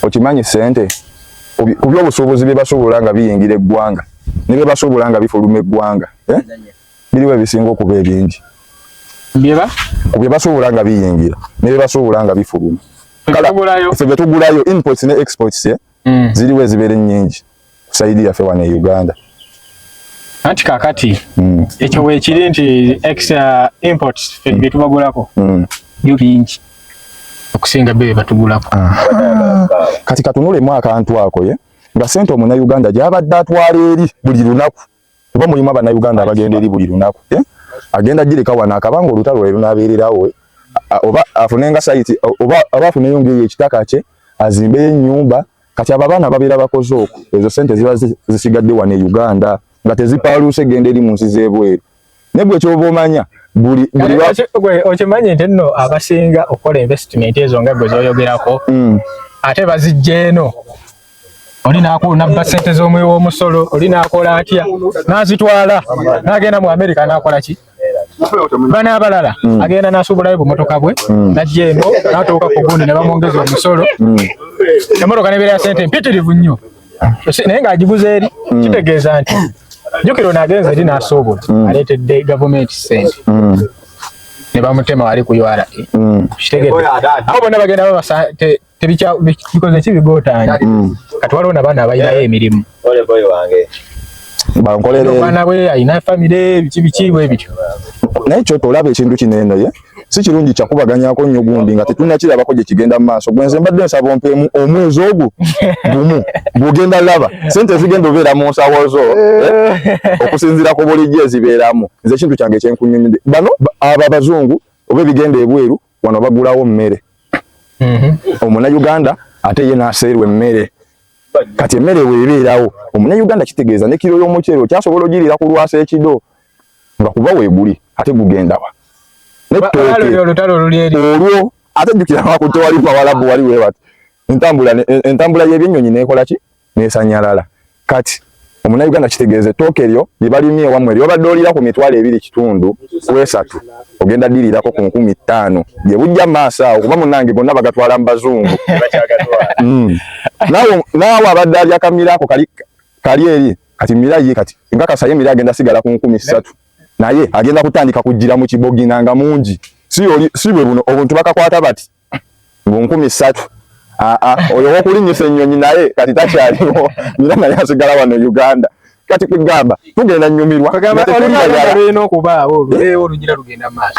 okimanyi sente ku byobusuubuzi bye basuubula nga biyingira eggwanga ne bye basuubula nga bifuluma eggwanga eh? biriwo ebisinga okuba ebingi ku bye basuubula nga biyingira ne bye basuubula nga bifuluma ffe bye tugulayo inputs ne exports eh? mm. ziriwo ezibeera ennyingi saidi yafe wane Uganda anti kakati mm. ekyo wekiri nti extra uh, import fe mm. byetubagulako mm. byo bingi okusinga bebe batugulako ah. kati katunule mwaka antu ako ye nga sente omuna Uganda gyabadde atwala eri buli lunaku kuba mulimu abanauganda abagenda eri buli lunaku eh? agenda gireka wano akabanga olutalo lwe lunabeererawo eh? oba afunenga saiti oba afuneyo ngaeyo ekitaka kye azimbeyo ennyumba kati abo abaana babeera bakoze oku ezo sente ziba zisigadde wano e uganda nga tezipaaluuse genda eri mu nsi z'ebweru naye gwe kyoba omanya buli buli wa gwe okimanyi nti nno abasinga okola investment ezo nga gwe zoyogerako mm. ate bazijja eno oli nabba sente z'omuwi w'omusolo oli nakola atya nazitwala nagenda mu america nakola ki bana abalala mm. agenda nasuubulayo bumotoka bwe mm. najja eno natuuka ku gundi ne bamwongeza omusolo mm. emotoka nebeera ya sente mpitirivu nnyo naye ng'agiguza eri mm. kitegeeza nti jukira ono agenze eri n'asuubula mm. aleetedde gavumenti sente mm. ne bamutema wali ku ura kitegedde awo bonna bagenda babasa tebikoze ki bigotaanya kati waliwo nabaana abalinayo eh. emirimu bankolera omwana we alina famire biki biki bwe bityo naye kyotolaba ekintu kino eno ye si kirungi kyakubaganyako nnyo gundi nga tetunnakirabako gye kigenda mu maaso gwe nze mbadde nsaba ompeemu omwezi ogwo gumu gugenda laba sente ezigenda obeera mu nsawo zo eh, okusinziira ku bulijjo ezibeeramu nze ekintu kyange ekyenkunyumide bano abo abazungu oba ebigenda ebweru wano bagulawo mmere mhm. omuna uganda ate ye naseerwa emmere kati emmere weebeerawo omuna uganda kitegeeza ne kiro y'omuceero kyasobola ogiriira ku lwasa ekido nga kuba weguli ate gugendawa olwo ate jjukira wako tewali bawalabu wali webati entambula entambula yebyenyonyi nekola ki nesanyalala kati omuna uganda kitegeeze tooke eryo lyebalimye ewamwe lyobadde olira ku mitwalo ebiri kitundu kwesatu ogenda dirirako ku nkumi ttaano gyebujja maaso awo kuba munange gonna bagatwala mu bazungu mm. naawe abadde alyakamira ako kali eri kati mira ye kati nkakasa ye mira agenda sigala ku nkumi ssatu naye agenda kutandika kujjira mu kibogina nga mungi si oli si bwe buno obuntu bakakwata bati mu nkumi ssatu ah, ah, oyo wokulinyisa ennyonyi naye kati takyaliwo mira naye asigala wano uganda kati kugamba tugenda nyumirwa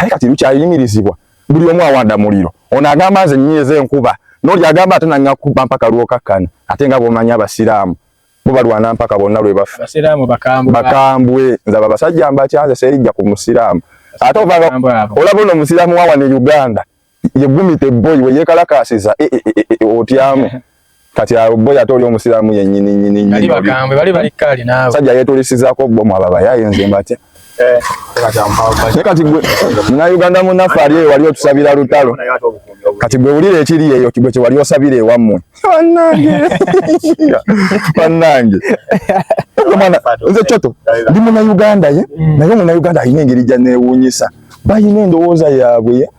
kati lukyayimirizibwa buli omu awanda muliro ono agamba nze nyiiza enkuba noli agamba ate nangakuba mpaka lwokakkana ate nga bwomanyi abasiraamu bo balwana mpaka bonna lwe bafa basiraamu bakambwe bakambwe nze abo abasajja mbakyanze serijja ku musiraamu ate ovanga olaba ono omusiraamu wa wano e uganda yegumita ebboyi we yeekalakaasiza e, e, otyamu kati abo bo yate oli omusiraamu yennyini nyini nyini sajja yeetulisizaako bbomu abo abayaye nze mbatya Eh, naye kati gwe munauganda munaffe ali eyo wali otusabira lutalo kati gwe wulira ekiri eyo gwe kyewali osabira ewammwe bannange nze coto ndi munauganda ye mm. naye omunauganda alina engeri gyaneewuunyisa balina endowooza yaabwe ye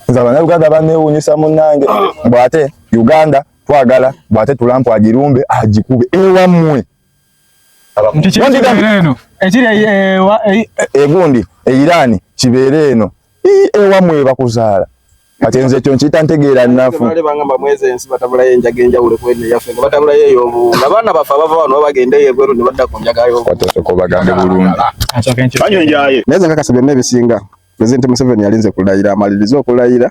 nze abanauganda baneewuunyisa munnange bwate uganda twagala bwate tulampu agirumbe agikube ewammwe ekiri egundi e, e, e, eirani kibeere eno ewamwe ebakuzaala kati nze ekyo nkiyita ntegeera nnafu bagamba mwezi ensi batabulayo enjaga enjawulo kwene yaffe nga batabulayo eyobu nga baana baffe abava wano babagenda eyo ebweru ne badda ku njaga yobuotosoka obagambe bulungi naye nze nkakasa byonna ebisinga pulezidenti museveni yalinze kulayira amalirize okulayira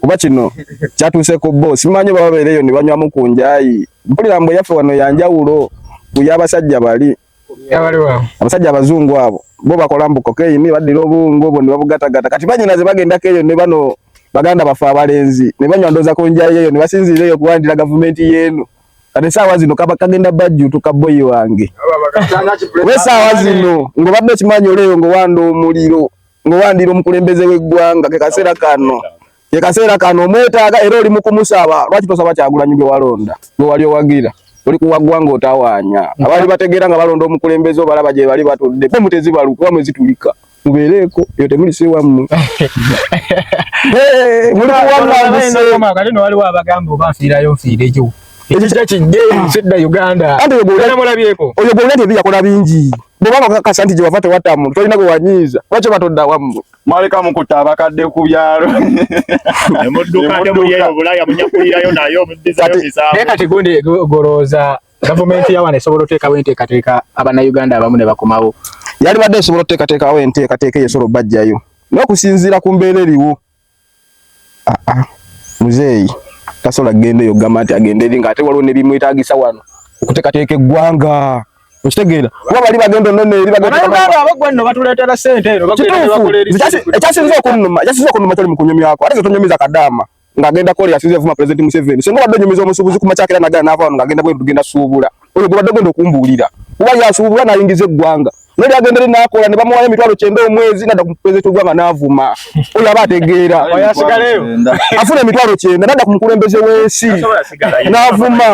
kuba kino kyatuuse ku bo simanyi baba beereyo ne banywamu ku njayi mpulira mbu eyaffe wano yanjawulo ku y'abasajja bali abasajja abazungu abo bo bakola mbu kokeyini baddira obungu obwo ne babugatagata kati banyina ze bagendako eyo ne bano baganda baffe abalenzi ne banywa ndooza ku njayi eyo ne basinziira eyo okuwandira gavumenti y'eno kati esaawa zino kaba kagenda bajjutuka boyi wange oba esaawa zino ng'obadde okimanyi oleeyo ng'owanda omuliro ng'owandira omukulembeze w'eggwanga ke kaseera kano ke kaseera kano omwetaaga era oli mu kumusaba lwaki tosaba kyagulanyi gwe walonda gwe wali owagira oli kuwa ggwanga otawaanya abaali bategeera nga balonda omukulembeze obalaba gye bali batudde pe mutezibalu kuba mwezitulika mubeereeko eyo temulise wammwe muli kuwammwe waliwo abagamba oba nfiirayo nfiire gyo ekyo kira kigge sedda uganda oyo gwewulira tebiyakola bingi Bw'oba bakakasa nti gye wava tewatta muntu tolina gwe wanyiiza lwaki oba todda wammwe mwaleka mukuta abakadde ku byalo emudduka ne muyeyo bulaya munyakulirayo naye omuddizayo misango naye kati gundi golowooza gavumenti yawana esobola oteekawo enteekateeka abannayuganda abamu ne bakomawo yalibadde esobola oteekateekawo enteekateeka eyo esobola obajjayo n'okusinziira ku mbeera eriwo Ah, ah. Muzeeyi tasobola kugenda eyo gamba nti agenda eri nga ate waliwo nebimwetagisa wano okutekateeka eggwanga okitegeera kuba bali bagenda onona eri ekyasinza okunuma ekyasinza okunuma kyali mukunyumyako ate zetunyumiza kadaama ng'agenda kola yasinza evuma pulezidenti museveni singa obadde onyumiza omusuubuzi ku makyakera nagana naava wano ng'agenda bweru tugenda suubula oyo gwebadde ogenda okumbuulira kuba yasuubulwa nayingiza eggwanga naye agenda eri nakola ne bamuwayo emitwalo kyenda omwezi nadda ku pulezidenti w'eggwanga n'avuma oyo aba ategeera afuna emitwalo kyenda nadda ku mukulembeze w'ensi n'avuma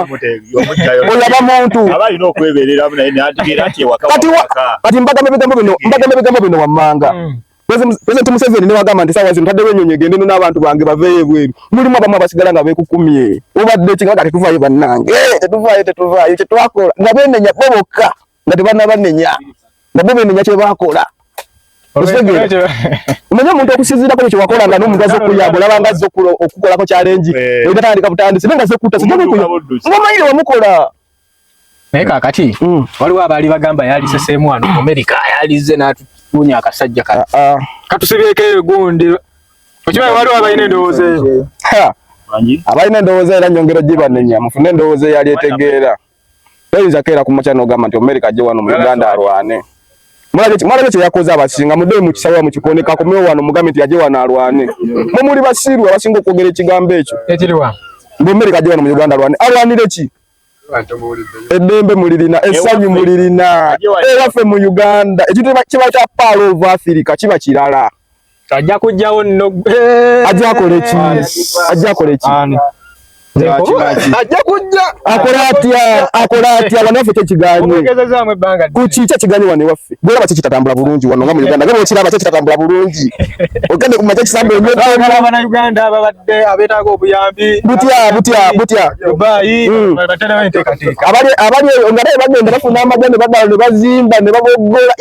oyo aba muntu kati mbagambe bigambo bino wammanga hmm. Pulezidenti Museveni ne wagamba nti saawa zino taddewo ennyonyi egende no n'abantu bange baveeyo ebweru. Mulimu abamu abasigala nga beekukumye. Obadde ki nga kati tuvaayo bannange? Eh, tetuvaayo, tetuvaayo. Kye twakola nga beenenya bo bokka nga tebannabanenya. Nga bo beenenya kye baakola. Omanyi omuntu okusinziirako ekyo wakola nga n'omuntu azze okuyamba olaba nga azze okukolako kyalengi. Eh. Oyo tatandika butandisi naye nga azze kutta. Sijja bikuyo. Omanyi wamukola. naye kakati mm. waliwo abaali bagamba yaliseseemu wano mu amerika yalizze n'atuunya akasajja ka ah, ah. katusibyeko egundi okimanyi waliwo abalina endowooza eyo abalina endowooza era nyongera gibanenya mufune endowooza eyali etegeera toyinza keera ku makya n'ogamba nti omerika ajje wano mu uganda alwane mulabye kyeyakoze abasinga mudee mukisawa mukikoneka akomewo wano mugambe nti yaje wano alwane mwe muli basiru abasinga okwogera ekigambo ekyo mbu omerika ajje wano mu uganda alwane alwanire ki eddembe mulirina essanyu mulirina ewaffe mu uganda ekintu kiba kya paalo of africa kiba kirala ajja kujjawo nno ajja akole ki ajja akole ki ajja kujja akole atya akole atya wano waffe kyekiganye kukikya kiganye wano ewaffe Bwera baki kitatambula bulungi wano nga mu Uganda. Gabo kiraba kya kitatambula bulungi. Ogende ku majaji sambe nyo. Baba na Uganda babadde abetaaga obuyambi. Butya butya butya. Dubai hmm. batera bente katika. Abali abali ngare bagenda bafuna amagende badala ne bazimba ne babogola.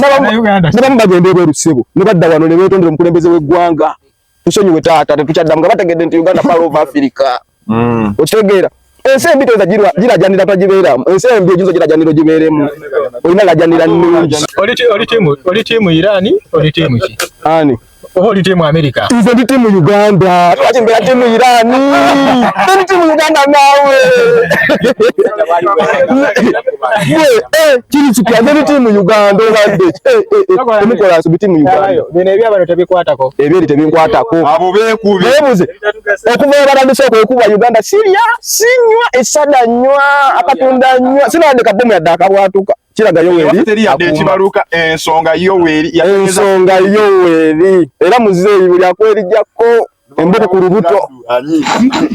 Nabamu bagenda ebweru sebo. Ne badda wano ne betondera omukulembeze w'eggwanga. tusonyiwe taata tetukyaddamu nga bategedde nti uganda pal of africa mm. okitegeera ensi embi toyinza girajanira tagibeeramu ensi embi oginza ogirajanira ogibeeremu olina lajanira nungi oli tiimu irani oli tiimu ki ani oba oli tiimu amerika nze ndi tiimu uganda lwaki mbeera tiimu irani ndi tiimu uganda naawe kiri kipya ngeri tiimu uganda obadde temukola nsobi tiimu uganda bino ebyabano tebikwatako ebyeri tebinkwatako abo bekubi bebuze okuva ebatandise okwekuba uganda sirya sinywa esada nywa akatunda nywa sinawande kabomu yadde akabwatuka kiraga yoweri ekibaluka ensonga yoweri ensonga yoweri era muzeeyi buli akwerijako emboko ku lubuto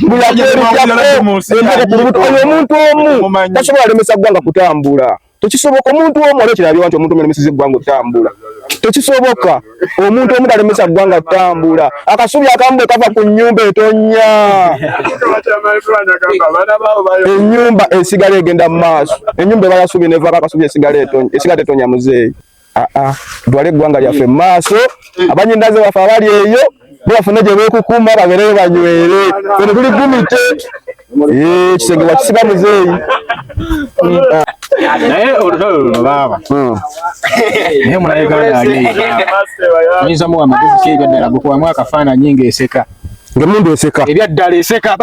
bulakuerujakoemboko oyo omuntu omu tasobola alemesa ggwanga kutambula tekisoboka omuntu omu aba ekirabyewa nti omuntu omu alemeseza eggwanga okutambula tekisoboka omuntu omu talemesa ggwanga kutambula akasubi akamu bwe kava ku nnyumba etonya ennyumba esigala egenda mu maaso ennyumba ebala subi nevako akasubi esigala etonya esigala tetonya muzeeyi ah, ah. dwale eggwanga lyaffe mu maaso abanyindaze baffe abali eyo bebafune gye beekukuuma babereyo banywere fene tuli gumite ekisenge eh, wakisiba muzeeyi naye olutalo luno baaba hmm. naye mulayeganda ali oyinza muwa amagezi kyeyo ddala gwe kuwamu akafaananyi ng'eseka ngemundu eseka ebyaddala eseka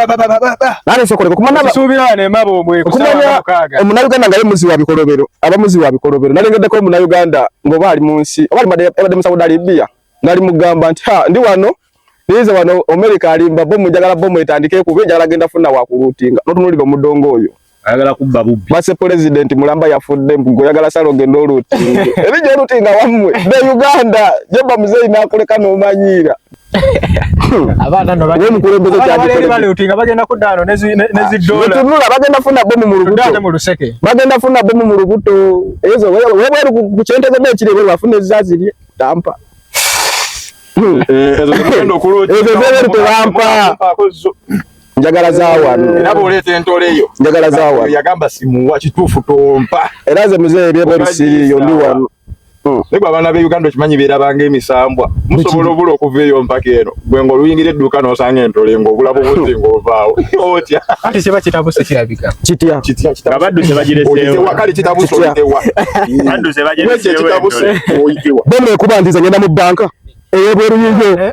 omunayuganda nga ye muzi wa bikolobero aba muzi wa bikolobero nalengeddeko omunayuganda ngaoba ali mu nsi oba abadde mu saudi arabia nali mugamba nti ha ndi wano niize wano omerika alimba bomu njagala bomu etandike kuba enjagala genda funa wakuluutinga notunulira omudongo oyo ayagala kubba bubbi mase president mulamba yafudde mpugo yagala salo genda oluti ebije oluti nga wamwe be uganda jeba mzee inakuleka no manyira abana no bali mukulembeze kyali bali bali uti nga bagenda kudano nezi nezi ah, dola tunula bagenda funa bomu mu lubuto dano mu luseke bagenda funa bomu mu lubuto ezo wewe wewe kuchenteza be kile wewe afune zazi lye tampa ezo zero to lampa njagala za wano era bw'oleeta entole yo njagala za wano yagamba simuwa kituufu tompa era nze muzeeyi byebwe bisiriiyo ndi wano hmm. naye gwe abaana be uganda okimanyi beerabanga emisambwa musobola obula okuva eyo mpaka eno gwe nga oluyingira edduuka n'osanga entole ng'obulabu buzi ng'ovaawo otya anti kiba kitabuse kirabika kitya kityaabaddu zebagireseewakale kitabuse oyitewa baddu zebagireseewo ekyo ekitabuse oyitewa bemekuba nti ze ngenda mu bbanka eyebweru yiyo eh, eh,